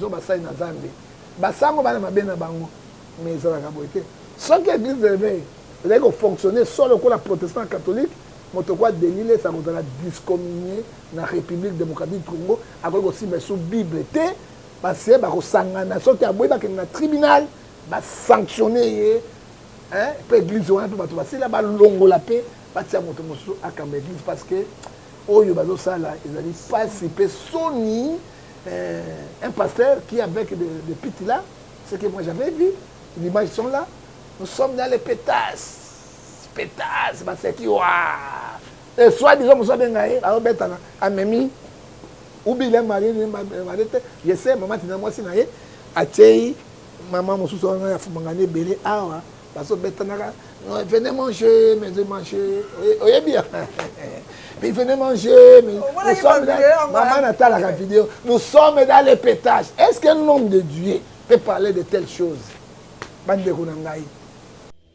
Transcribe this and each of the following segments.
basali na zambe basango bana mabe na bango mais ezalaka boye te soki église de réveil ezali kofonctionne so lokola protestant catholique moto kwa delile esa kozala discommunie na république démocratique congo akoki kosimba esu bible te base bakosangana soki aboyi bakende na tribunal basanctionne ye mpe eglise wana mpe bato basila balongola mpe batia moto mosusu akamba eglise parce que oyo bazosala ezali mpasi mpe soni euh, un pasteur qui avec de, de pite là ce que moi j'avais vu l'image sont là nous sommes dans les pétasses pétasses baseki wa et soit disant mosu abenga ye aobetana amemi ubile marie marie te je sais mama tina mwasi na ye atyei Maman mosusu wana ya fumangani ebele awa bazobetanaka venez manger mais de manger oyebi ya mais venez manger mais nous sommes maman natalaka vidéo nous sommes dans le pétage est ce qu'un homme de Dieu peut parler de telle chose bandeko na ngai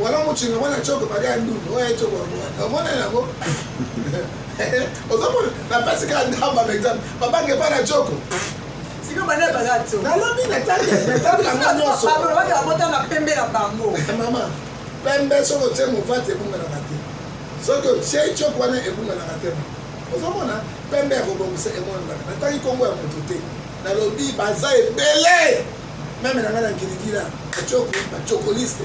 Wala mochinga mwana choko bali ya ndundu oyo echoko wamwana omona yango ozomona napesi kaka ndamba par exemple babange epai na choko nalobi natali yango nyonso mama pembe soki otie movati ebunganaka te soki otie choko wana ebunganaka te ozomona pembe ya kobongisa emonanaka natangi nkombo ya moto te nalobi baza ebele meme na ngai na ngiligila bacokoliste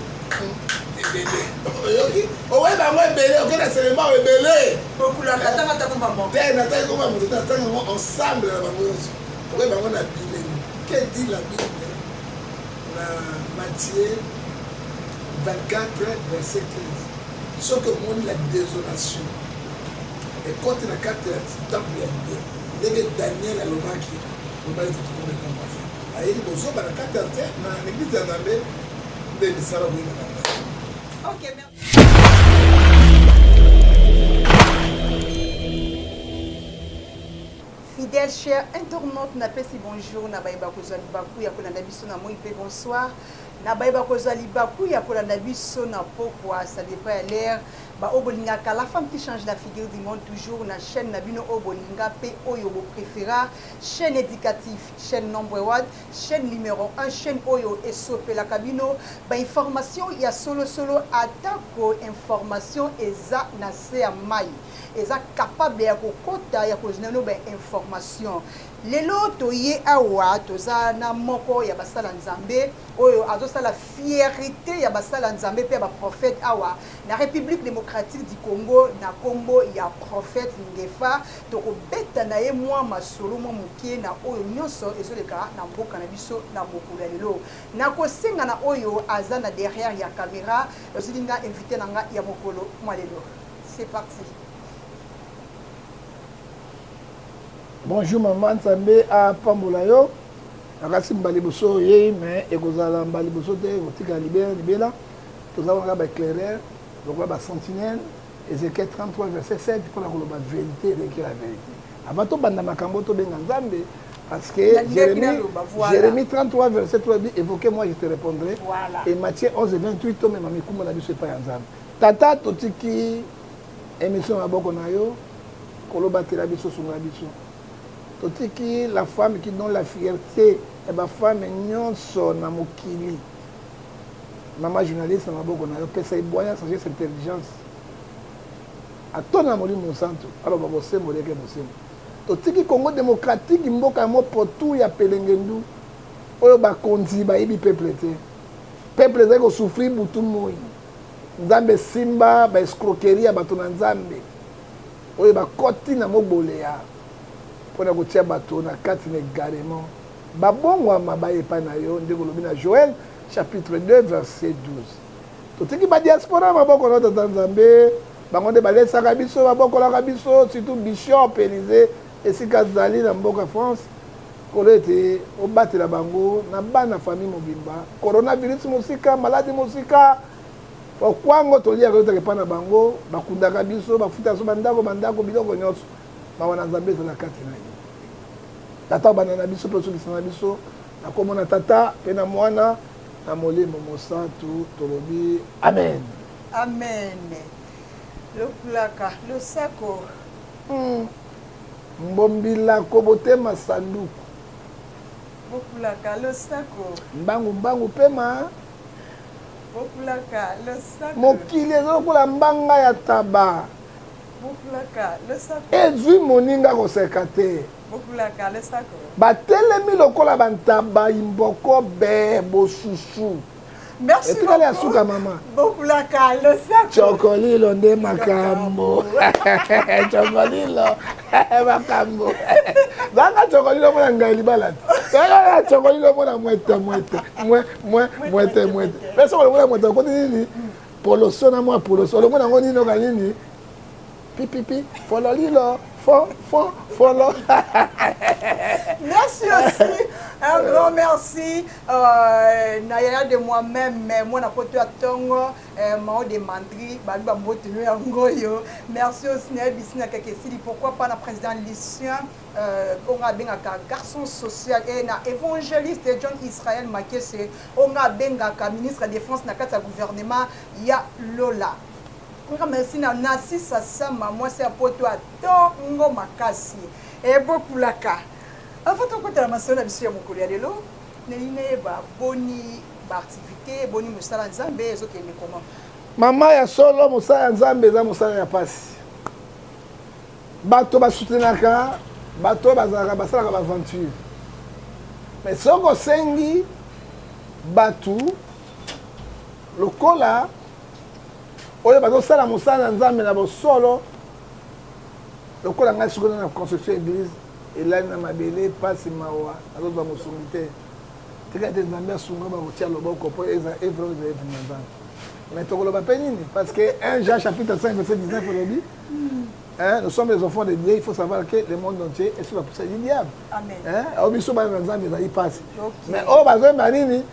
ebele oyoki oweyi bango ebele oke na selema oyo ebele te nataki koma moto te natanga yango ensemble na bango nyonso okoyi bango na bilenge ke di la bible na matie 24 verset 15 soki omoni la désolation ekoti na kati ya temple ya ndenge daniel alobaki Vraiment il faut tokoma ekambo ya fin. Ayeli bozoba na kati ya te na eglise ya Nzambe nde misala boye na kati. Okay, merci. Fidèle cher internaute napesi bonjour na baye bakozwa libaku ya kolanda biso na moi mpe bonsoir na baye bakozwa libaku ya kolanda biso na pokwa ça dépend ya l'air baoyo bolingaka la femme qui change la figure du monde toujours na chaîne na bino oyo bolinga mpe oyo bopréféra Chaine educatif chaine nombre one chaine numero un chaine oyo esopelaka bino ba information ya solo solo atako information eza na se ya mai eza capable ya kokota ya kozina no ba information lelo toye awa toza na moko ya basala nzambe oyo azosala fierité ya basala nzambe mpe ya baprofete awa na république démocratique du congo na nkombo ya prophète ngefa Tokobeta na ye mwa masolo mwa moke na oyo nyonso ezoleka na mboka na biso na mokolo ya lelo. Nakosenga na oyo aza na derrière ya camera ozili nga invité na nga ya mokolo mwa lelo. C'est parti. Bonjour maman Nzambe apambola yo. Nakasi mbali boso oyei mais ekozala mbali boso te ekotikala libela libela. Toza wana ba éclaireurs, lokola ba sentinelles Ezekiel 33 verset 7 mpo na koloba verite eleki la verite. Avant tobanda makambo tobenga Nzambe Parce que Jérémie, voilà. Jérémie 33, verset 3 dit Évoquez-moi, je te répondrai. Voilà. Et Matthieu 11, 28, Tome Mami Kumba na biso epai ya Nzambe. Tata totiki émission ya boko na yo kolobatela biso sunga biso. Totiki la femme qui donne la fierté ya bafame nyonso na mokili. mama journaliste na maboko na yo pesa ebwaya sagesse intelligence atona molimo mosantu aloba bosembo leke bosembo totiki congo démocratique mboka ya mopotu ya pelengendu oyo bakonzi bayebi peuple te peuple ezali kosufri butu moi nzambe esimba baescroquerie ya bato na nzambe oyo bakoti na moboleya mpo na kotia bato na kati na egarement Babongwama baya epai na yo, ndenge olobi na Joel chapitre 2 verset 12. Totiki ba diaspora maboko na Tata Nzambe, bango nde balesaka biso, babokolaka biso, surtout Bishop Elise esika azali na mboka France kolo ete obatela bango na bana famille mobimba coronavirus mosika maladi mosika okwango toliaka yotaka epai na bango bakundaka biso bafuta biso bandako bandako biloko nyonso mawa na nzambe ezala kati na ye tata bana na biso mpe osukisa na biso na nkombo na tata mpe na mwana na molimo mosantu tolobi amen amen lokulaka losako hmm. mbombilako botema sanduku bokulaka losako mbangu mbangu pema bokulaka losako mokili eza lokola mbanga ya taba ezwi moninga koseka te batelemi lokola bantaba imboko be bosusu etikali ya suka mama cokolilo nde makambo cokolilo makambo zanga cokolilo mona ngai libala te aa cokolilo mona mwete mwete mwete mwete mpe sokolomona mwete okoti nini poloso na mwa poloso olongo nango nini oka nini pipipi fololilo fo fo folo merci aussi un grand merci euh, na yaya de moi-même mais mwana poto ya ntongo euh, mao de mandri babi bambotelo yango oyo merci aussi nayebisi na kaka esili pourquoi pas na président lucien Euh, oyo nga abengaka garçon social e na évangéliste john israel makese oyo nga abengaka ministre ya défense na kati ya gouvernement ya lola nga merci na nasisa sama mwasi ya poto ya ntongo makasi ebokulaka avant tokotala masolo na biso ya mokolo ya lelo nalingi nayeba boni baactivité boni mosala nzambe ezokende koma mama ya solo mosala ya nzambe eza mosala ya mpasi bato basutenaka bato bazalaka basalaka baaventure me soki osengi bato lokola oyo bazosala mosala ya nzambe na bosolo lokola ngai soki na construction ya église elali na mabele mpasi mawa nazozwa mosungi te tika te nzambe asunga bakotya loboko mpo evre ezali na nzambe mais tokoloba mpe nini parce que 1 jean chapitre 5 verset 19 elobi Hein, nous sommes les enfants de Dieu, il faut savoir que le monde entier est sous la poussée du diable. Amen. Hein, au biso ba na nzambe ezali pasi. Mais oh bazo ba nini?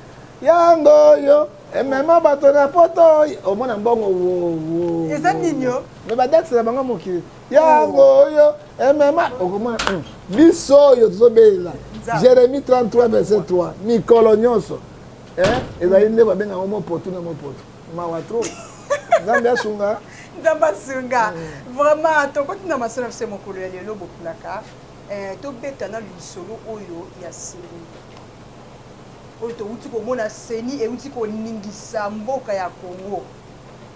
Yango yo, et même ba to na poto, au moins na mbongo wo wo. Eza nini yo? Mais ba dax na bango mokili. Yango yo, et même au comment biso yo tozo bela. Jérémie 33 verset 3. Mikolo nyonso. Hein, ezali nde ba benga ngo mopoto na mopoto. mawa trop nzambe asunga nzambe asunga mm. vraiment tokoti na masolo na biso ya mokolo ya lelo bokulaka eh, tobeta na lisolo oyo ya seni oyo towuti komona seni ewuti koningisa mboka ya congo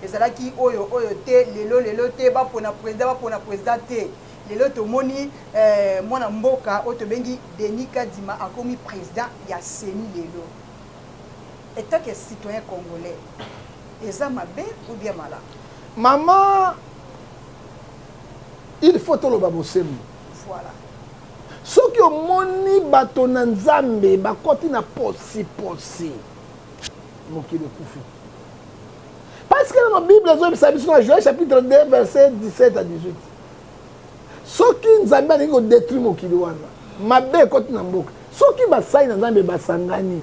ezalaki oyo oyo te lelo lelo te bapona president bapona president te lelo tomoni eh, mwana mboka oyo tobengi denis kadima akomi president ya seni lelo Etat que citoyen congolais eza mabe ou bien malamu? Maman il faut toloba bosembo. Voilà. soki omoni bato na nzambe bakoti na posiposi mokili ekufi parce que nano bible ezoyebisa biso na joel chapitre 2 verset 17 à 18 soki nzambe alingi kodetruire mokili wana mabe ekoti na mboka soki basali na nzambe basangani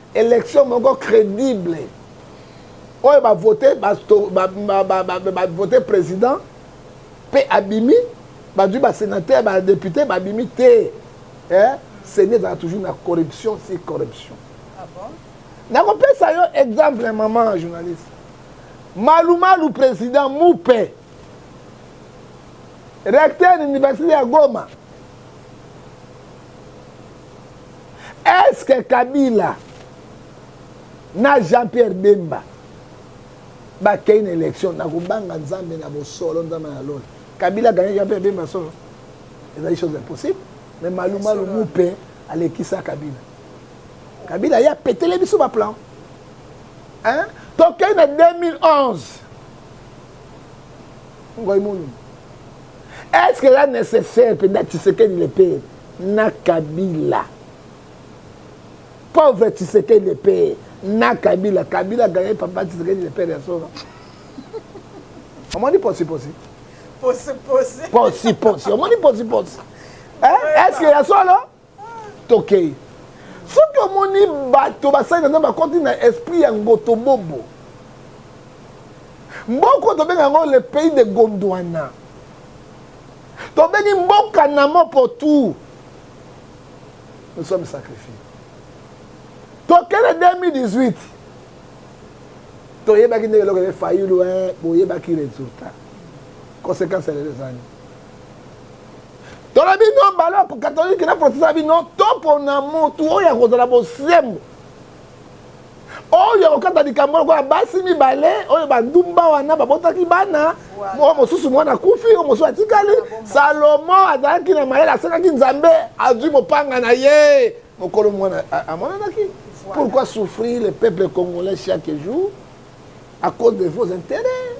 election moko credible oyo bavote bavote président mpe abimi bazwi basénateur badéputé babimi te eh? seni ezalaka toujours na corruption si corruption ah bon? nakopesa yo exemple maman journaliste malumalu président mupe recteur université ya goma est-ce que kabila na jean-pierre bemba bakei na élection na kobanga nzambe na bosolo nzambe na lola kabila ganye jean-pierre bemba solo ezali chose impossible mais malumalu mupe alekisa kabila kabila ye apetele biso baplan tokei na 2011 ngoimunu est ce que eza nécessaire mpenza tshisekedi le pere na kabila pauvre tshisekedi le pere na kabila kabila gagne papa tshisekedi le pere ya solo omoni posiposi posiposi omoni posiposi est ce que ya solo tokei soki omoni bato basali na nzambe bakoti na esprit ya ngotobobo mboko tobenga yango le pays de gondwana tobengi mboka na mopo tout nous sommes sacrifiés tokende 2018 toyebaki ndenge eloko ye fayulu boyebaki résultat conséquence ya lelo ezani tona bino bala katolike na protesta bino topona motu oyo akozala bosembo oyo akokata likambo lokola basi mibale oyo bandumba wana babotaki bana oyo mosusu mwana akufi oyo mosusu atikali salomo azalaki na mayele asengaki nzambe azwi mopanga na ye mokolo mwana amonanaki pourquoi souffrir le peuple congolais chaque jour à cause de vos intérêts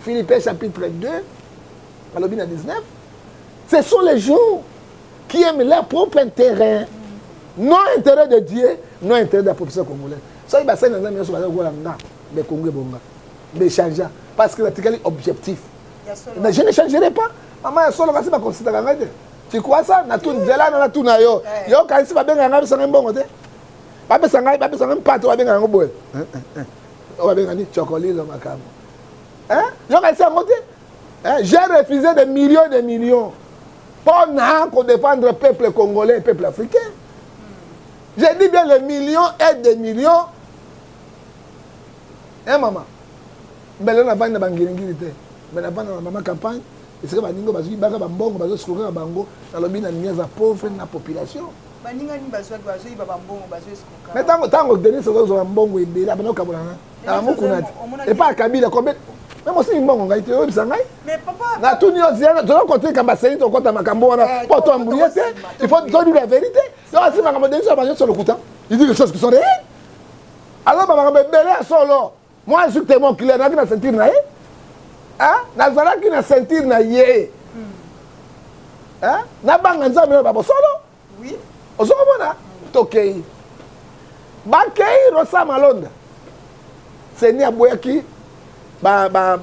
philippin chapitre 2 balobi na 19 ce sont les gens qui aiment leur propre intérêt non intérêt de dieu non intérêt de la population congolaise soki basali na nzambe nyonso baza kokola nga mais kongo ebonga mais changea parce que natikali objectif mais je ne changerai pas mama ya solo kasi bakonsitaka ngai te tikwasa nzela na natuna yo eh. yo kanisi babengaka ngai bapesa ngai mbongo te bapesa ngai bapesa ngai mpate babengaka yango boye eh, eh, oyo babengani chokolilo makambo yo kanisi yango te eh, j'ai refusé des millions des millions mpo na kodefendre peuple congolais peuple africain je dis bien les millions et des millions e eh, mama mbele navandi na bangiringiri te me navandi na mama campagne esika baninga bazwi baka bambongo bazosukolaka bango nalobi na ninga aza pauvre na population baningani bazwaki bazoyiba bambongo bazoeskoka me ntango ntango denis azozwa mbongo ebele abanda kokabola na yango kuna epa ya kabila combien meme osengi mbongo ngai te oyebisa ngai natuni yo toza koteka baseni tokota makambo wana mpo eh, toambulie te il faut todi la vérité yo asi makambo denisi ya banyoso lokuta il dit les choses qui sont réelles alors bamakambo ebele ya solo moi je suis témoin clair nazalaki na ceinture na ye nazalaki na ceinture na ye hmm. nabanga nzambe na babosolo ozokomona tokei bakei rosa malonda seni aboyaki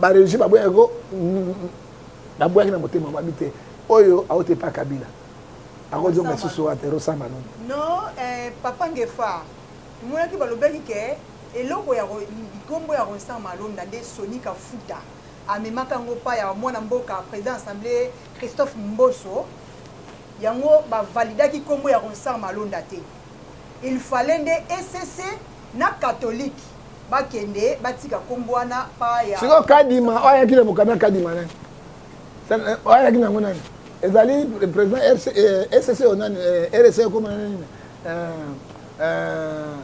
baregi baboyaki ko baboyaki na motema mabi te oyo aote pa kabila akozonga lisusu wate rosa malonda no eh, papa ngefa emonaki balobaki ke eloko ya likombo ya rosa malonda nde soni kafuta amemaka yango pa ya mwana mboka président assemblée christophe mboso Yango ba validaki kombo ya Ronsard Malonda te? Il fallait nde ECC na catholique bakende batika kombo wana pa ya Siko Kadima oya kile mukana Kadima nani? Eh, oya kina ngo nani? Ezali president RC ECC eh, onani eh, RC koma nani? Euh euh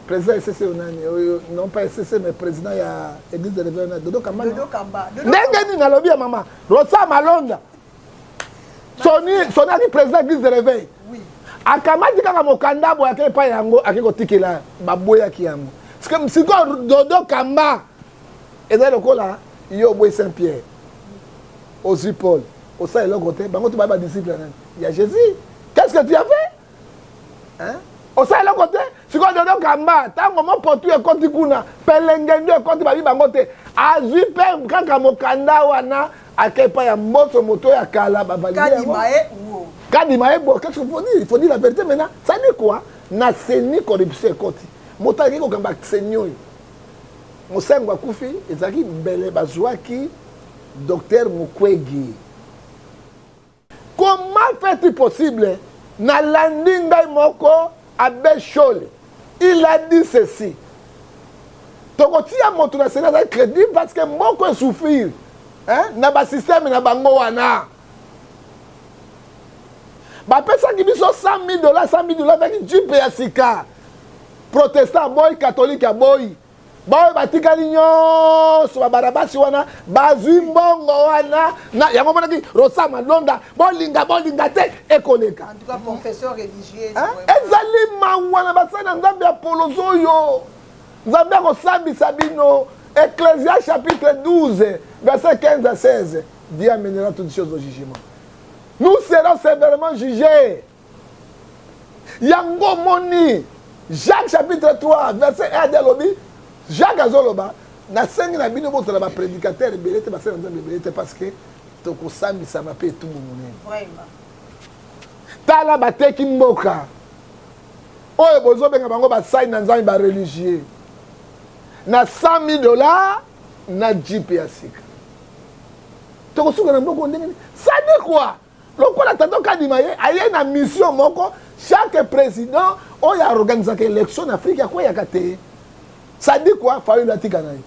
président esese yo nani oyo non pas esese mais président ya église de réveil na dodo kamba dodo kamba ndenge nini nalobi ya mama rosa malonda soni soni adi président église de réveil akamati kaka mokanda boye ake epai yango ake kotikela baboyaki yango sikoyo dodo kamba ezali lokola yo oboyi saint pierre ozwi paul osala eloko te bango to baye badisciple ya jésus qu'est ce que tu as fait hein? osala eloko te sikoyo dodo kamba ntango mopotu ekoti kuna pelengendo ekoti babi bango te azwi mpe kaka mokanda wana ake epai ya mboso moto ya kala bavalidekadima ye bo qu'est-ce que faut dire faut dire la vérité maintenant ça dit quoi na seni corruption ekoti moto aleki kokamba seni oyo mosengo akufi ezalaki mbele bazwaki docteur mukwege Comment fait-il possible nalandi ngai moko abe shole il a dit ceci tokotia moto na sena azali crédible parce que moko esouffrir na basystème na bango wana bapesaki biso 100 000 dollars 100 000 dollars baki jipe ya sika protestant aboyi katholike aboyi baoyo batikali nyonso babarabasi wana bazwi mbongo wana na yango omonaki rosa malonda bolinga bolinga te ekoleka ezali mawa na basali na nzambe ya polozi oyo nzambe akosambisa bino ecclesia chapitre 12 verset 15 à 16 dieu amenera toutes choses au jugement nous serons sévèrement jugés yango omoni jacques chapitre 3 verset 1 adi alobi jacques azoloba nasengi na bino bozala baprédicateur ebele te basali na nzambe ebele te parce que tokosambisama mpe etumbu monene tala bateki mboka oyo bozobenga bango basali na nzambe bareligieux na 100 000 dollars na jipe ya sika tokosuka na mboko ndenge sadi kua lokola tonton kadima ye aye na mission moko chaque président oyo aorganisaka élection na afrique akweyaka te ça dit quoi fayulu atika na ye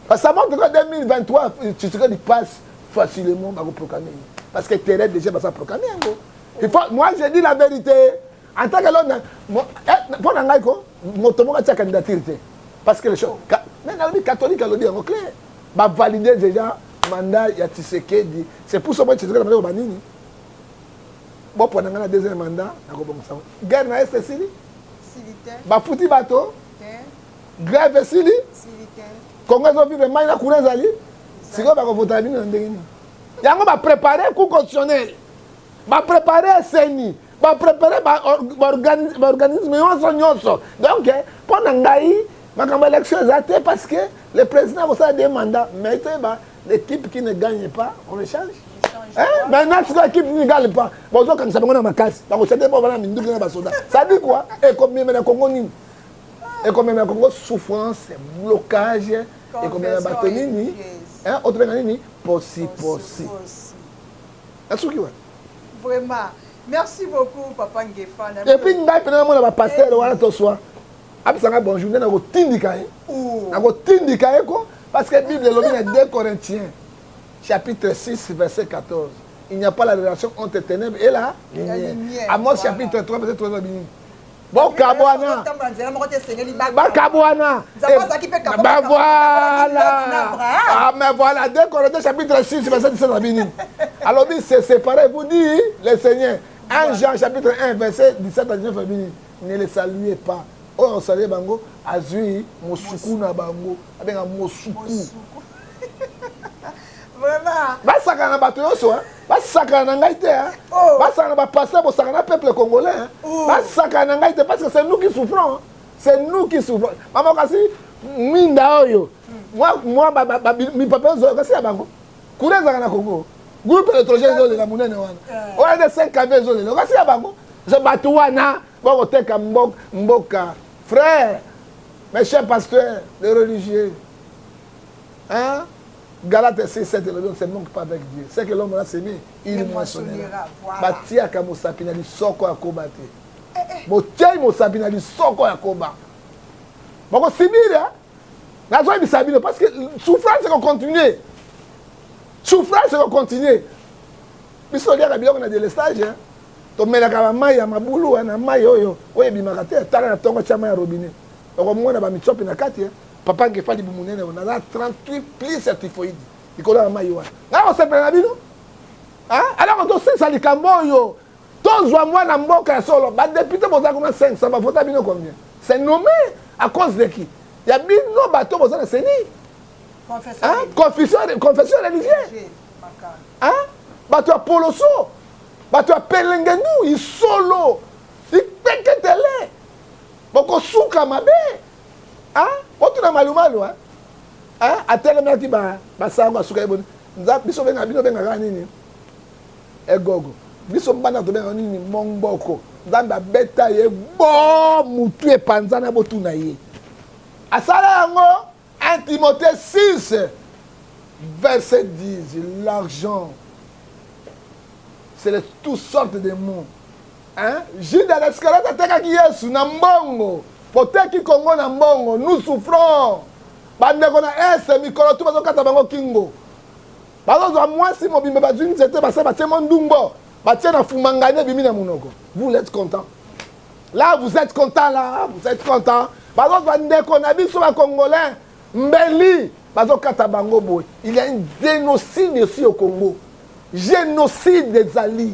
parce que avant toka 2023 tshisekedi passe facilement bakoproclame ye parce que terrain déjà baza proclame yango il faut moi je dis la vérité en tant que lona mpo eh, na ngai ko moto moko atya candidature te parce que le show mais nayebi catholique alobi yango clair ba valider déjà mandat ya Tshisekedi c'est pour ça moi Tshisekedi amaki ba nini bopona ngai na deuxième mandat nakobongisa yango guerre na est esili bafuti bato grève esili kongo ezovivre mai na kuna ezali sikoyo bakovotala bino na ndenge nini yango baprépare cour constitutionnel baprépare seni ba prepare ba organisme nyonso nyonso donc mpo na ngai makambo élection eza te parce que le président akosala de mandat mais toyeba l'équipe qui ne gagne pas on le change eh, maintenant sikoyo équipe ne gagne pas bozokanisa bango na makasi bakotya te bo bana minduki na basoda sadi kua ekomemela kongo nini ekomemela kongo souffrance blocage ekomemela bato nini otobenga nini posiposi nasuki wana vraiment merci beaucoup papa ngefa na epuis ngai mpena namona bapastere wana toswa apesa ngai bonjour nde nakotindika ye nakotindika ye ko parce que bible elobi na 2 corinthiens chapitre 6 verset 14 il n'y a pas la relation entre ténèbres et la lumière amos chapitre 3 verset 3 elobi nini bokabwana bakabwana bavoila ame voilà de corinthiens chapitre 6 verset 17 na bini alobi se séparer vous dit le seigneur 1 jean chapitre 1 verset 17 na 19 na bini ne le saluez pas oyo osalye bango azwi mosuku na bango abenga mosuku basakana na bato nyonso basakana na ngai te oh. basakana na bapasteur bosakana na peuple congolais oh. basakana na ngai te parce que c'est nous qui souffrons c'est nous qui souffrons mama kasi mwinda oyo mwa mipape ozoyo kasi ya bango kura ezalaka na congo groupe électrogène ezolela monene wana eh. oyo nde 5 kave ezolela okasi ya bango so bato wana bakoteka mboka frère mes chers pasteurs les religieux Hein? Galate 6, 7 elobi on se manque pas avec Dieu. C'est que l'homme l'a semé, il moissonnera. Batiaka mosapi na lisoko ya koba te. Eh, eh. Botiai mosapi na lisoko ya koba. Bokosibira. Nazoyebisa bino parce que souffrance ekokontinue. Souffrance ekokontinue. Biso toliaka biloko na delestage. Hein? tomelaka bamai ya mabulu wana mai oyo oyo ebimaka te tala na ntongo tya mai ya robinet okomona bamicope na kati eh. Papa Ngefa libumu nene yo naza 38 plus ya typhoïde likolo ya mayi wana ngai kosepela na bino alors tosilisa likambo oyo tozwa mwana mboka ya solo badepute boza kuna 500 bavota bino combien c'est nommé à cause de qui ya bino bato boza na seni confession religieux bato ya poloso bato ya pelengenu isolo ipeketele bokosuka mabe ah otuna malumalu hein hein atelemaki ba basango asuka ye boni nza biso benga bino bengaka nini egogo biso bana tobenga nini mongboko nzambe abeta ye bo mutu epanzana botuna ye asala yango 1 timothée 6 verset 10 l'argent c'est de toutes sortes de mots Hein? Judas l'Iscariote atekaki Yesu na mbongo. Boteki Congo na mbongo. Nous souffrons. Bandeko na Est mikolo tu bazokata bango kingo. Bazozwa mwasi mobimba bazwi nzete basa batie mwa ndumbo batie na fumangani ebimi na monoko. Vous l'êtes content. Là vous êtes content là, vous êtes content. Bazozwa ndeko na biso ba Congolais mbeli bazokata bango boye. Il y a un génocide ici au Congo. Génocide ezali.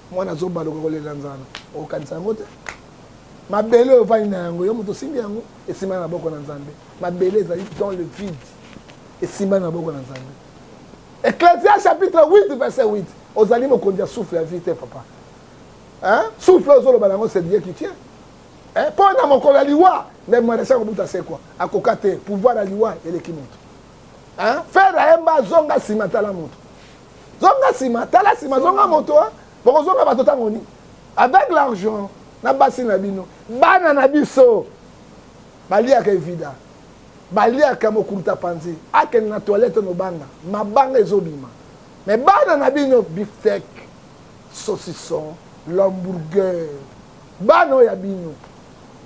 mwana zoba lokola kolela nzala okokanisa yango te mabele oyo ovandi na yango yo moto osimbi yango esimba na maboko na nzambe mabele ezali dans le vide esimba na maboko na nzambe ecclesia chapitre 8 verset 8 ozali mokonzi ya souffle ya vie te papa souffle ozoloba na yango c'est dieu qui tient mpo eh, na mokolo ya liwa nde marechal kobuta sekwa akoka te pouvoir ya liwa eleki moto fer ayemba azonga nsima tala moto zonga nsima tala nsima zonga moto bokozonga bato ntango nini avec l'argent na basi na bino bana na biso baliaka evida baliaka mokuruta panzi akende na toilette nobanga mabanga ezobima me bana na bino biftek saucisson lamburger bana oyo ya bino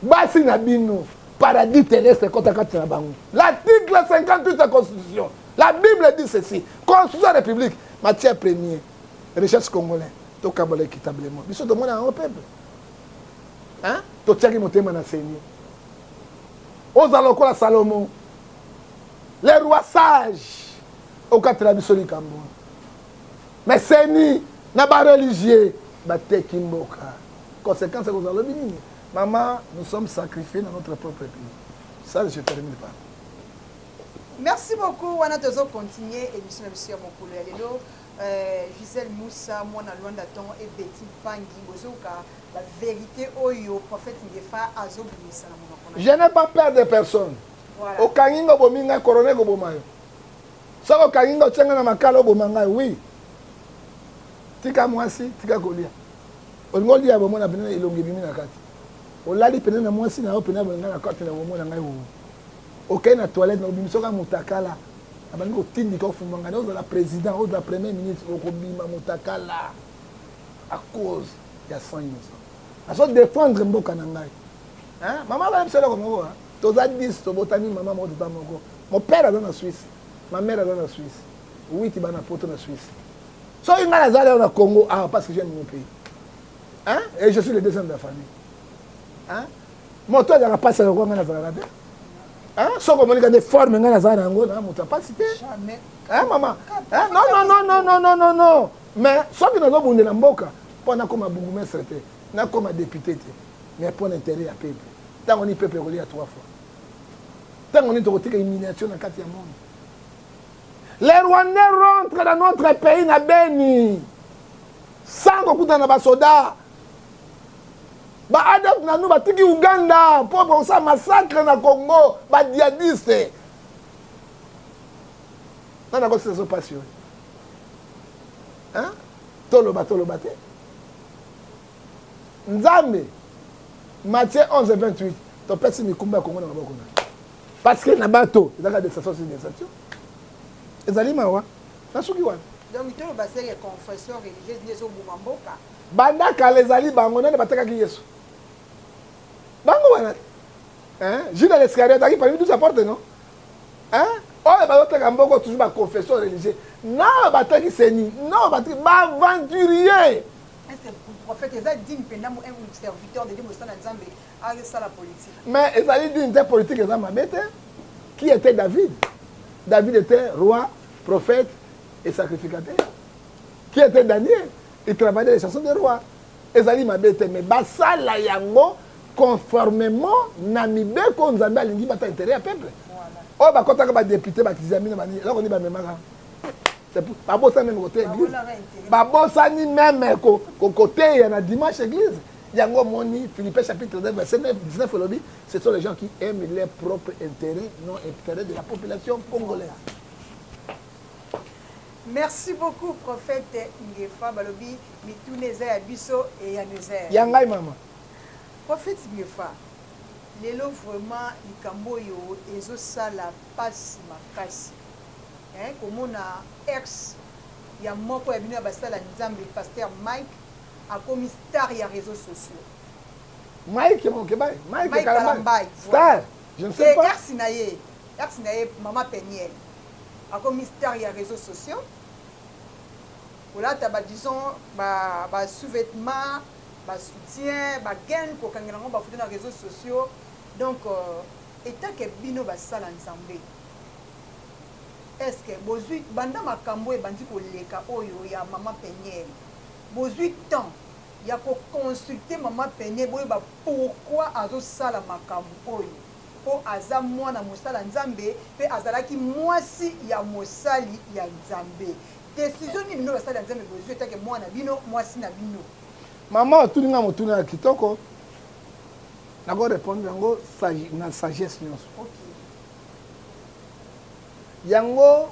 basi na bino paradis terrestre ekota kati na bango l'article 58 ya constitution La Bible dit ceci, constitution ya République, matière première, richesse congolais, tokabola équitablement. Biso tomona yango peuple. Hein? Totiaki motema na Seigneur. Ozala lokola Salomon. Les rois sages okatela biso likambo wana. Mais Seigneur na ba religieux bateki mboka. Conséquence ekozala lobi nini? Maman, nous sommes sacrifiés dans notre propre pays. Ça, je termine par. Merci beaucoup wana tozo continuer émission na biso ya mokolo ya lelo euh, Gisèle Moussa mwana Luanda Tongo et Betty Pangi bozoka la vérité oyo prophète Ngefa azobimisa na monoko na Je n'ai pas peur de personne voilà. okangi ngo bomi ngai corona ekoboma yo soki okangi ngo otye ngai na makala oboma ngai oui tika mwasi tika kolia olingi olia bomona pene elongi ebimi na kati olali pene na mwasi na yo pene ya bolingai na kati na bomona ngai okei na toilette na obimisa oka motakala abandi kotindika ofumanga na ozala président ozala premier ministre okobima motakala à cause ya sang innocent azo défendre mboka na ngai mama bayebisa eloko moko toza 10 tobotami mama moko tata moko mon père aza na suisse ma mère aza na suisse witi bana poto na suisse soki ngai naza lelo na congo awa ah, parce que j'aime mon pays hein? et je suis le deuxième de la famille hein? moto azalaka mpasi ya lokola ngai nazalaka te soki omonika nde forme ngai nazala na yango na moto ya mpasi te mama nonnnnnnno mais soki nazobundela mboka mpo nakoma bourgmestre te nakoma député te mais mpo na intérêt ya peuple ntango nini peuple ekolia trois fois ntango nini tokotika humiliation na kati ya monde les rwandais rentre na notre pays na beni sans kokutana na basoda ba adf na nous batiki uganda mpo bakosala massacre na congo ba diadiste nani akosisa so mpasi oyo toloba toloba te nzambe matie 11 28 topesi mikumba ya kongo na maboko na parce que na bato ezalaka desation sur desation ezali mawa nasuki wana donc toloba seke confession religieuse nde ezoboma mboka Banda kala ezali bango nani batekaki Yesu? Bango wana. Hein? Judas l'Iscariot azalaki parmi 12 apôtres non? Hein? Oyo bazoteka mboko toujours ba confession religieux. Nao bateki seni, nao bateki ba aventurier. Est-ce que prophète eza digne penda mo un serviteur de Dieu mo sana Nzambe a sala politique? Mais ezali digne te politique eza mabe te. Qui était David? David était roi, prophète et sacrificateur. Qui était Daniel? Eclavader les chansons des rois ezali mabe te mais basala yango conformément na mibeko nzambe alingi bata intérêt ya peuple oyo bakotaka badepute bakizami na banini eloko nini bamemaka babosani meme koteya eglise babosani meme koteya na dimanche eglise yango omoni philippe chapitre 9 verset 9 19 elobi ce sont les gens qui aiment leur propre intérêt non intérêt de la population congolaise Merci beaucoup prophète Ngefa balobi mituna eza ya biso eyano eza ya ya ngai maman. Prophète Ngefa lelo vraiment likambo oyo ezo sala pasi makasi hein komona ex ya moko ya bino ya basala nzambe pasteur Mike akomi star ya reseaux sociaux. Mike Mokebayi, Mike, Mike Kalambay, Kalambay star, je ne sais pas. Ex na ye, ex na ye mama Penielle akomi star ya reseaux sociaux kolata ba disons ba ba sous-vêtements ba soutien ba gaine kokangela yango bafoto na réseaux sociaux donc euh, etake bino basala nzambe eske bozwi banda makambo ebandi koleka oyo ya mama peniel bozwi temps ya koconsulte mama peniel boyeba pourkui azosala makambo oyo mpo aza mwana mosala Nzambe mpe azalaki mwasi ya mosali ya Nzambe. Decision nini bino basali ya Nzambe bozwi etake mwana na bino, mwasi na bino? Mama otuni nga motuna ya kitoko, nako répondre yango na sagesse nyonso. Okay. Yango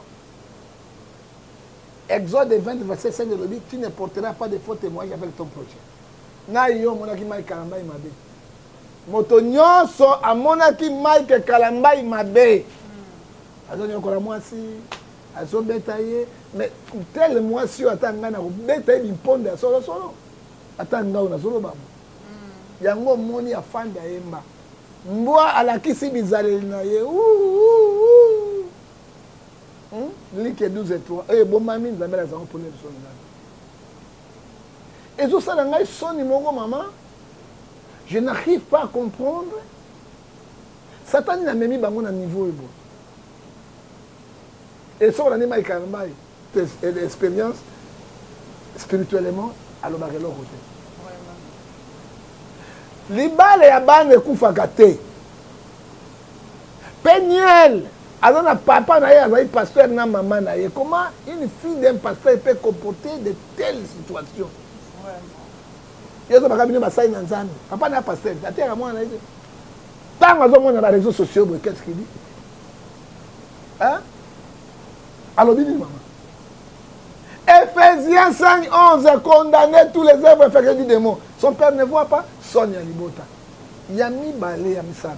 Exode 20 verset 5 elobi tu ne porteras pas de faux témoignage avec ton prochain. Na yo omonaki Mike Kalambay mabe. Moto nyonso amonaki Mike Kalambay mabe. Azonyokola mwasi, azobeta ye. Mais tel mwasi oyo ata ngai nakobeta ye bimponda ya solo solo. Ata ngai oyo nazoloba mo. Hmm. Yango omoni afanda yemba. Mbwa alakisi bizaleli na ye. Hmm? Like 12 3. Oyo ebomami Nzambe alakisa yango polele solo ngai. ezo sala ngai soni moko mama je n'arrive pas à comprendre satani na memi bango na niveau ebo et soki olandi mai karmai expérience spirituellement alobaka eloko te libala ya bana ekufaka te Peniel aza na papa na ye azali pasteur na mama na ye comment une fille d'un pasteur peut comporter de telle situation yo ezobaka bino basali na nzambe papa na ya pasteur ateyaka mwana na ye te ntango azomona ba réseaux sociaux boye qu'est ce qu'il dit hein? alobi nini mama Ephésiens 5, 11, condamner tous les œuvres effectuées du démon. Son père ne voit pas, son ya libota. Ya mibale ya misato.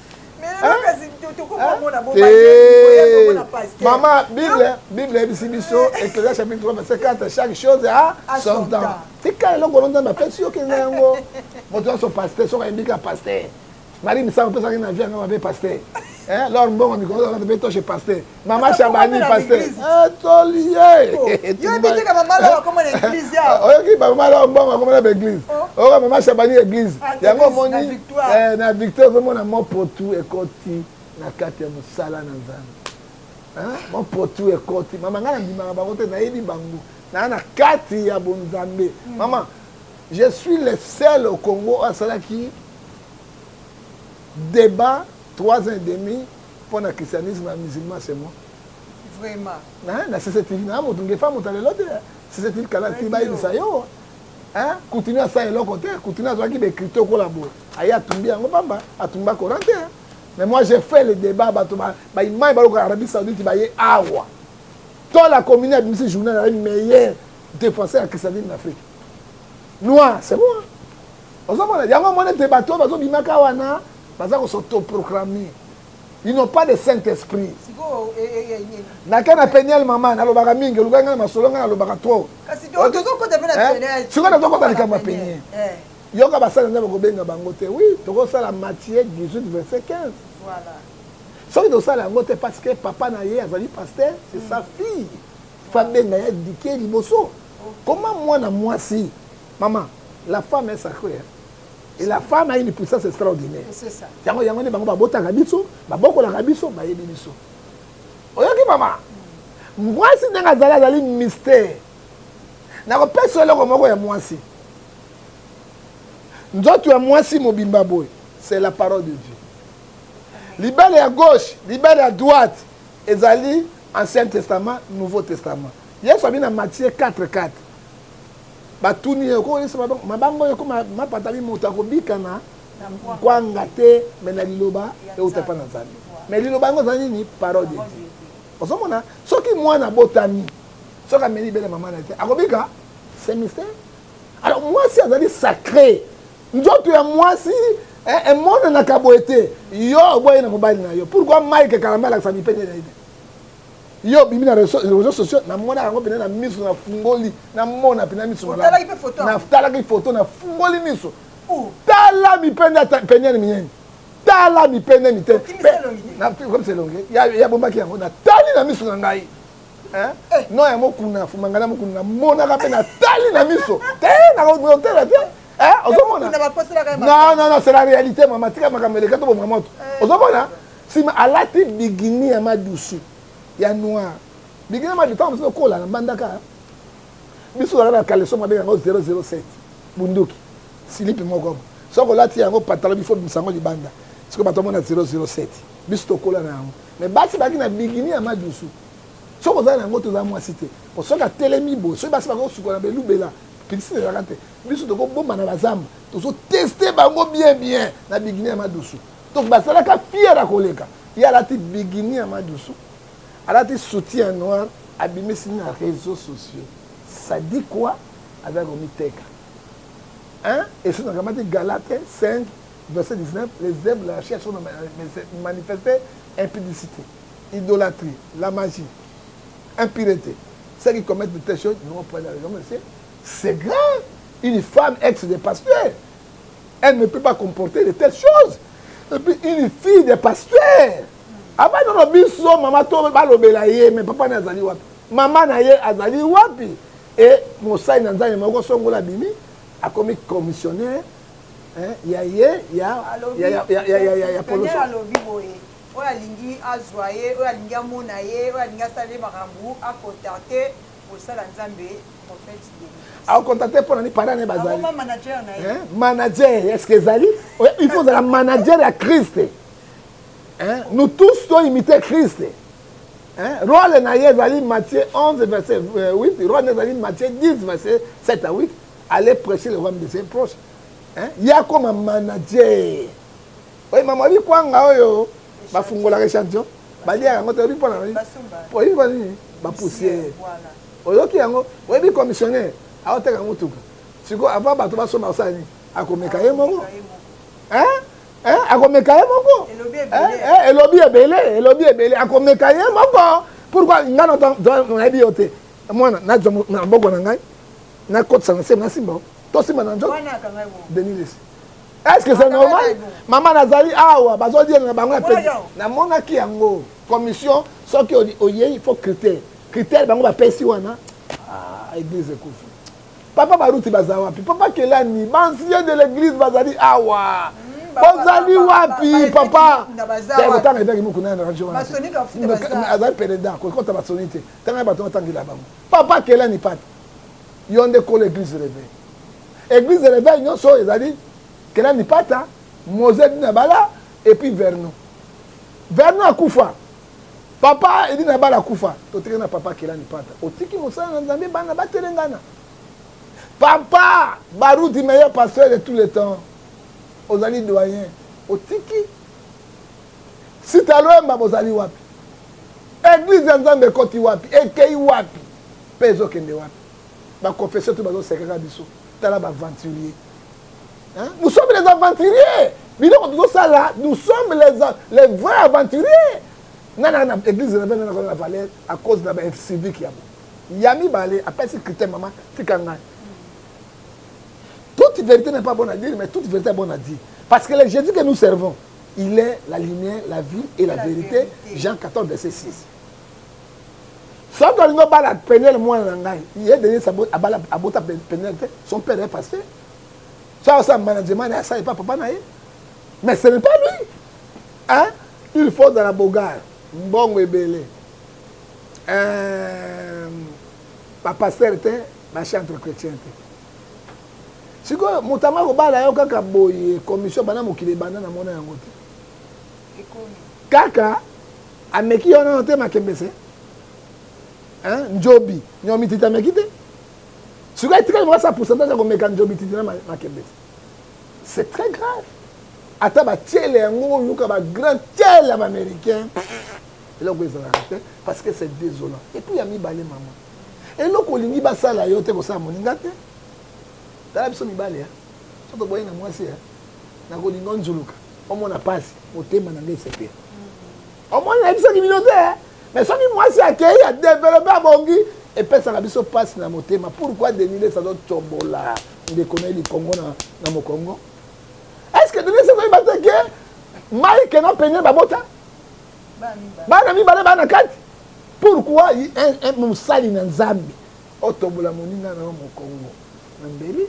mama bible bible eyebisi biso ecclesia chapitre 3 verset 4 chaque chose a son temps tika eloko ono nzambe apesi yo kenda yango moto nyonso paster soki ayembika paster mari misango opesaki na vie yanga mabe paster lor mbongo mikolo mpe toshe paster Mama Shabani pasteur. Ah toli ye. Oh, yo biki na mama la koma na église ya. Oyo ki ba mama la mbongo koma na église. Oh ka mama Shabani église. Ah, Yango moni eh na victoire vraiment na mon potu ekoti na kati ya musala na Nzambe. Hein? Mon potu ekoti mama ngana ndimaka bango te nayebi bango. Na na kati ya bonzambe. Hmm. Mama je suis le seul au Congo asalaki débat 3 ans et demi Mpo na christianisme ya musulman c'est moi. Vraiment. Na na CCTV na moto ngefa moto lelo te. CCTV kala ti bayebisa yo. Hein? Continue asa eloko te, continue azwaki be crypto kola boye. Aye atumbi yango pamba, atumba Coran te. Hein? Mais moi j'ai fait le débat bato ba ba imai ba lokola Arabie Saoudite ba ye awa. Toi la commune abimisi journal la meilleur défenseur ya christianisme na Afrique. Noir, c'est moi. Ozomona yango mona te bato bazobimaka wana baza kosotoproclame ils n'ont pas de saint esprit nake na peniel mama nalobaka mingi olukaki ngai na masolo ngai nalobaka trop sikoyo nazokota likambo ya penie yoka basali nzambe kobenga bango te wi tokosala matie 18 verset 15 soki tosala yango te parce que papa na ye azali pasteur c'est sa fille fabenga ya dike liboso koma mwana mwasi mama la femme est sacrée Et la femme a une puissance extraordinaire. C'est ça. Yango yango nde bango babotaka biso, babokolaka biso, bayebi biso. Oyoki mama? Mwasi ndenge azali azali mystère. Nakopesa eloko moko ya mwasi. Nzoto ya mwasi mobimba boye, c'est la parole de Dieu. Libala ya gauche, libala ya droite ezali Ancien Testament, Nouveau Testament. Yesu abi na Matthieu 4 4. Batuni ye okoki kolesa mabango? Mabango oyo ekoma mapatami, moto akobika na nkwanga te, me na liloba euta mpa na Nzambe. Me liloba yango eza nini? Parole de Dieu. Ozomona, soki mwana abotami, soki ameli libele mama na ye te, akobika? C'est mystère. Alors mwasi azali sacre, nzoto ya mwasi emonanaka eh, eh, boye te. Yo oboyi na mobali na yo, pourquoi Mike Kalamba alakisa mipende na ye te? yo obimi na réseau sociaux namonaka yango mpena na miso nafungoli namona mpena miso natalaki foto nafungoli miso oh. tala mipende peniani minene tala mipende mitekomisa elongi yabombaki yango natali na miso na ngai eh. no ya mokuna fumanga na mokuna namonaka mpe natali na miso te nakotela te ozomona non non non c'est la réalité mama tika makambo eleka tobomaka moto eh. ozomona Sima alati bigini ya madusu ya noir bigini ya madusu ntango mosusu okola na mbandaka biso tozalaka na kaleso mabe yango 007 bunduki silipi moko soki olati yango patalo bifo bimisa yango libanda sikoyo bato amona 007 biso tokola na yango me basi bazalaki na bigini ya madusu soki ozala na yango toza mwasi te po soki atelemi boye soki basi bakosukola belubela pisine ezalaka te biso tokobombana bazamba tozoteste bango bien bien na bigini ya madusu donc bazalaka fiere koleka ye alati bigini ya madusu alati soutien ya noir abimisi na réseau sociaux ça dit quoi azali komiteka hein esu nakamati galate 5 verset 19 les œuvres de la chair sont manifestées impudicité idolâtrie la magie impureté ceux qui commettent de telles choses n'ont pas la raison c'est grave une femme ex de pasteur elle ne peut pas comporter de telles choses et puis une fille de pasteur abandi no biso mama to balobela ye me papa ne azali wapi mama na ye azali wapi e mosali na nzambe moko songola abimi akomi commissionnaire ya ye ya poloso alobi boye oyo alingi azwa ye oyo alingi amona ye oyo alingi asala ye makambo akontante Bosala Nzambe prophète Denis. Au contacter pour nani parents naye bazali. Akoma manager na ye. Manager, est-ce que ezali? Il faut la manager ya Christ. Hein? Nous tous doit imiter Christ. Hein? Rôle na ye ezali Matthieu 11 verset 8, euh, rôle na ezali Matthieu 10 verset 7 à 8. Allez prêcher le royaume de ses proches. Hein? Yakoma manager. Oye mama oyebi kwanga oyo bafungolaka echantillon baliaka yango te oyebi mpo na nini oyebi mpo na nini bapusiere oyoki yango oyebi commissionnaire aoteka motuka sikoyo avant bato basomba kosala nini akomeka ye moko akomeka ye moko elobi ebele elobi ebele akomeka ye moko pourkoi ngai nayebi yo te mwana nazwa maboko na ngai nakotisa na se nasimba tosimba na nzoto denilis est-ce que c'est normal mama nazali awa bazodiela na bango ya pei namonaki yango commission soki oyei il faut critère critère bango bapesi wana ah, église ekufi papa baruti baza wapi papa kelani bancien de l'église bazali awa bozali wapi papa kotanga etaki mokuna na radio wana azali pele da kokota basoni te tanga bato batangela bango papa kelani pata yo nde kolo eglise de reveil eglise de reveil nyonso oyo ezali kela mipata mose dina bala epuis vernon vernon akufa papa edina bala akufa totiki na papa kela mipata otiki mosala na nzambe bana batelengana papa baruti meilleur pasteur de tout le temps ozali doyen otiki Sita Lwemba bozali wapi? Eglise ya Nzambe ekoti wapi? Ekei wapi? Pe ezokende wapi? Ba confession tu bazosekaka biso. Tala ba aventurier. Hein? Nous sommes les aventuriers. Biloko tozosala, nous sommes les, les vrais aventuriers. Nana na, na, na église na bana na valeur à cause na ba civique ya bo. Ya mibale apesi critère mama tika ngai. Toute vérité n'est pas bonne à dire, mais toute vérité est bonne à dire. Parce que le Jésus que nous servons, Il est la lumière, la vie et la, la verite. verite. Jean 14, verset 6. soki olingi obala penele mwana na ngai ye denis abota penele te son père est pasteur soki asala management na ye asala epa papa na ye mais ce n'est pas lui hein? il faut ozala bogar mbongo ebele euh, bapasteur te bachantre chrétien te sikoyo moto yango akobala yo kaka boye commission banda mokili ebanda na mona yango te kaka ameki yo nano te makembese njobi nyomititi ameki te sikoyo etikali moko sa pourcentage ya komeka njomititi na makembese c'est très grave ata batiele yango oluka bagrand tiele ya baaméricain eloko ezalaka te parce que c'est désolant epuis ya mibale mama eloko olingi basala yo te kosala moninga te tala biso mibali ya soki toboyi na mwasi ya nakolinga onzuluka omona pasi motema na ngai esepela omoni nayebisaki bino te me soki mwasi akei ya develope abongi epesaka biso pasi na motema pourkui denilesa azotombola ndeko na ye likongo na mokongo estce denise koyeba te ke mike na pene babota bana mibale bana kati pourkui mosali na nzambe Otobola moninga na yo mokongo na mbeli,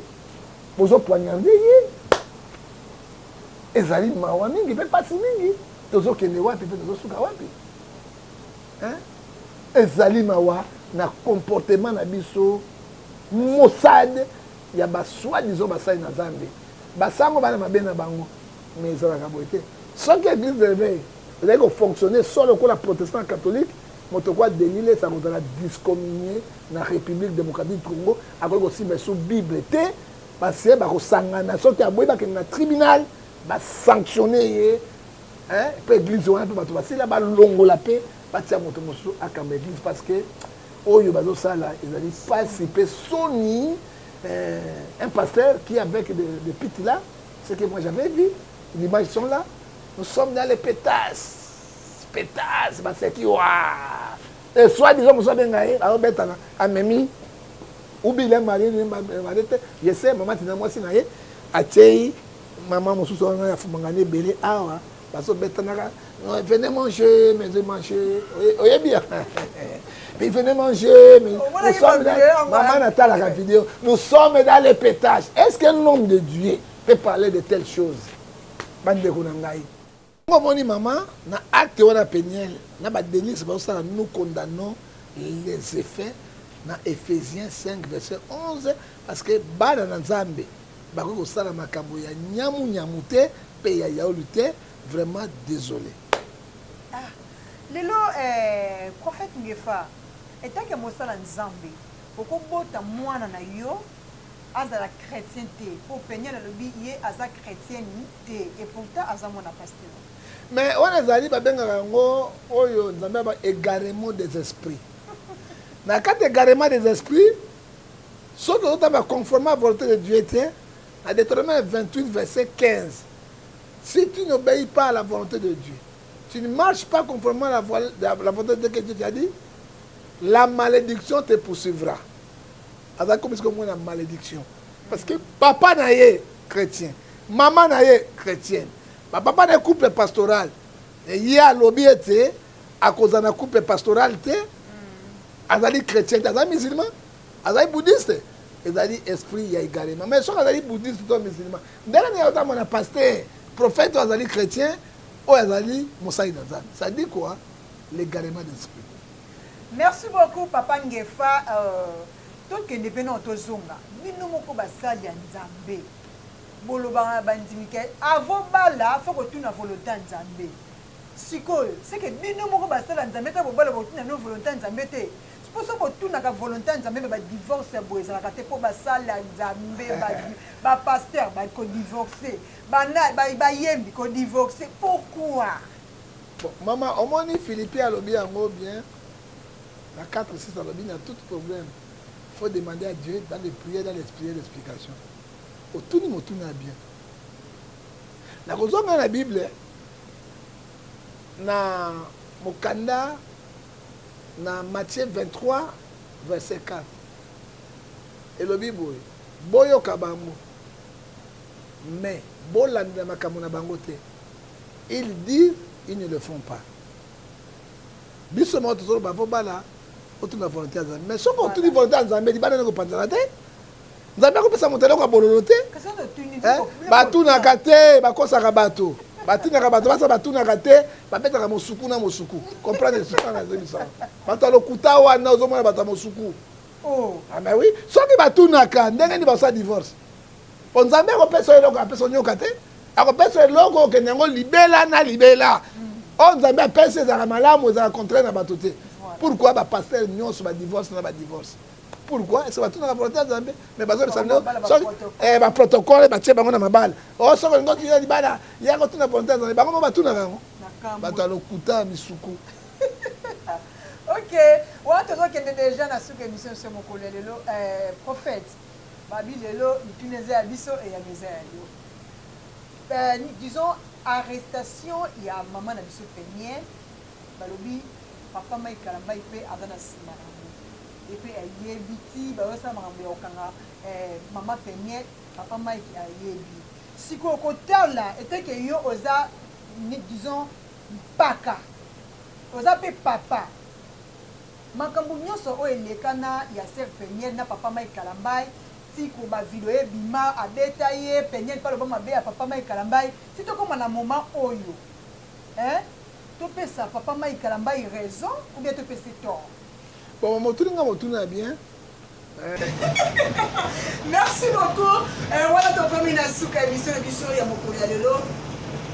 bozo poignarde ye. Ezali mawa mingi mpe mpasi mingi. Tozokende wapi mpe tozosuka wapi? Hein? Ezali mawa na comportement na biso mosade ya basoi disant basali na zambe basango bana mabe na bango mais ezalaka boye te soki eglise de réveil ezali kofonctionne solo lokola protestant catholique Moto kwa Denis Lessi akozala discominie na Republique Democratique du Congo, akoki kosimba lisusu Bible te, base bakosangana soki aboyi bakende na tribunal ba sanctionne ye mpe eglise wana mpe bato basila balongola mpe batia moto mosusu akamba eglise parce que oyo bazosala ezali mpasi mpe soni euh, un pasteur qui avec de, de pite là ce que moi j'avais vu l'image sont là nous sommes dans les pétasses Spectacle baseki wa. Et soit disant musa benga ye alobetana amemi ubile mari ni mari te je sais mama tina mwasi na ye atyeyi mama mosusu wana ya fumangani ebele awa bazobetanaka venez manger mais manger oyebi ya puis venez manger mais nous sommes dans maman natalaka vidéo nous sommes dans les pétages est-ce qu'un homme de Dieu peut parler de telles choses bandeko na ngai Ngo moni maman na acte wana penielle na ba Denise ba sala nous condamnons les effets na Ephésiens 5 verset 11 parce que bana na Nzambe bakoki kosala makambo ya nyamu nyamu te pe ya yaulu te vraiment désolé. Ah, lelo eh, prophète Ngefa etake mosala Nzambe okobota mwana na yo azala chrétien te po penielle alobi ye aza chrétienne te et pourtant aza mwana pasteur mais wana ezali babengaka yango oyo nzambe aba égarement des esprits na kati égarement des esprits soki ozotamba conformément à volonté de dieu te na deutéronome 28 verset 15 si tu n'obéis pas à la volonté de dieu tu ne marches pas conformément à la, voie, la, la volonté de dieu que dieu t'a dit la malédiction te poursuivra aza komi sikoyo mwana malediction parce que papa na ye chrétien mama na ye chrétienne bapapa na ye couple pastoral ye alobi ete akozala na couple pastoral te mm. azali chrétien te azali musulman azali bouddhiste ezali esprit ya égarement mais soki azali bouddhiste to musulman ndenge nini ozama na paster prophète oyo azali chrétien oyo azali mosali na nzambe ça dit quoi l'égarement d'esprit Merci beaucoup papa ngefa tokende pe nao tozonga bino moko basali ya nzambe bolobaka na bandimi ke avo bala fo kotuna volonte ya nzambe sikoyo seke bino moko basali ya nzambe ta bobala bokotuna bino volonte ya nzambe te po soki botunaka volonte ya nzambe me badivorce ya boye ezalaka te mpo basali ya nzambe bapaster bakodivorce bayembi kodivorce pourkui Bon maman omoni Philippien alobi yango bien na 4 6 alobi na tout problème faut demander à Dieu dans les prières dans les prières d'explication otuni motuna ya bien na kozonga na Bible na mokanda na Matthieu 23 verset 4 elobi boye boyoka bango mais bolandela makambo na bango te Ils disent ils ne le font pas biso moko tozoloba po bana otuna volonté ya nzambe mais soki otuni volonté ya nzambe libanda nde kopanzana te nzambe akopesa moto eloko ya bololo te eh, batunaka te bakosaka bato batindaka bato basa batunaka te babetaka mosuku na mosuku comprendre esuka na ezomisaka bato ya lokuta wana ozomona bato ya mosuku oh. ah, mais oui soki batunaka ndenge nini basala divorce po nzambe akopesa yo eloko apesa onyoka te akopesa eloko okende yango libela na libela oyo nzambe apesi ezalaka malamu ezalaka contraire na bato te pourquoi bapastere nyonso badivorce na badivorce pourquoi est ce que batunaka volonté ya nzambe mais bazobisa bino soki baprotocole eh, batie bango na mabala o oh, soki olingi otiya libala ya kotuna volonté ya nzambe bango mo batunaka yango bato ya lokuta ya misuku ok wana tozokende deja na suka émission se mokolo ya lelo eh, prophète Babi lelo mituna eza ya biso eyano eza ya yo euh disons arrestation ya maman na biso penielle balobi papa Mike kalambayi pe aza na sima na yango ye pe ayebi ti bazo sala makambo ya kokanga eh, maman penielle papa Mike ayebi sikoyo kotala eteke yo oza disons mpaka oza pe papa Makambo nionso oyo eleka na ya soeur penielle na papa Mike kalambay ti ko ba video ebima abeta ye penielle pe aloba mabe ya papa Mike kalambay ti tokoma na moment oyo hein to pesa papa Mike kalambay raison ou bien to pese tort? Bon motuni nga motuna bien. merci beaucoup euh, wana tokomi na suka émission na biso ya mokolo ya lelo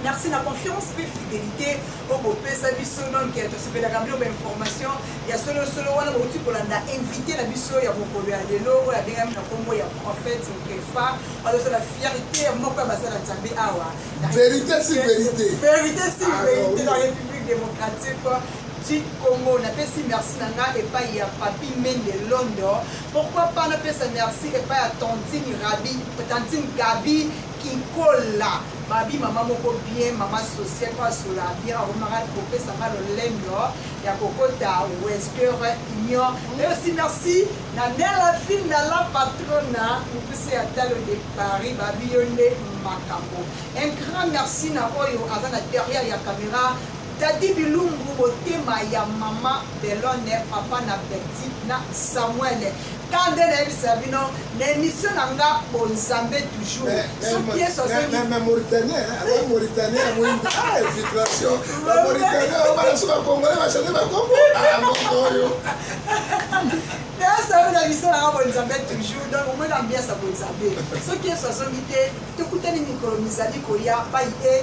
merci na confiance mpe fidélité oyo bopesa biso donc tosepelaka bino bainformation ya solosolo wana bauti kolanda invité na biso ya mokolo ya lelo oyo abengami na nkombo ya prophète kefa azozala fierité ya moko ya basala nzambe awa verité si verité verité si ah, verité na république démocratique Tic Congo na pesi merci na nga epai ya Papy Mende Londo pourquoi pas na pesa merci epai ya Tantine Rabi Tantine Gabi Kikola mabi mama moko bien mama sociale mpo asola bien akomaka kopesa nga lolendo ya kokota wester union mais aussi merci na nela finda la patrona mokuse ya talo de paris babi yo nde makambo un grand merci na oyo aza na derrière ya caméra Daddy Bilumbu motema ya maman Belonne papa na Betty na Samuel ka nde nayebisa bino na emission na nga bonzambe toujours soki yesu azokiaoyo nayasabi na biso nanga bonzambe toujours donc omoni ambiance ya bonzambe soki yesu azongi te tokutani mikolo mizali koya bai e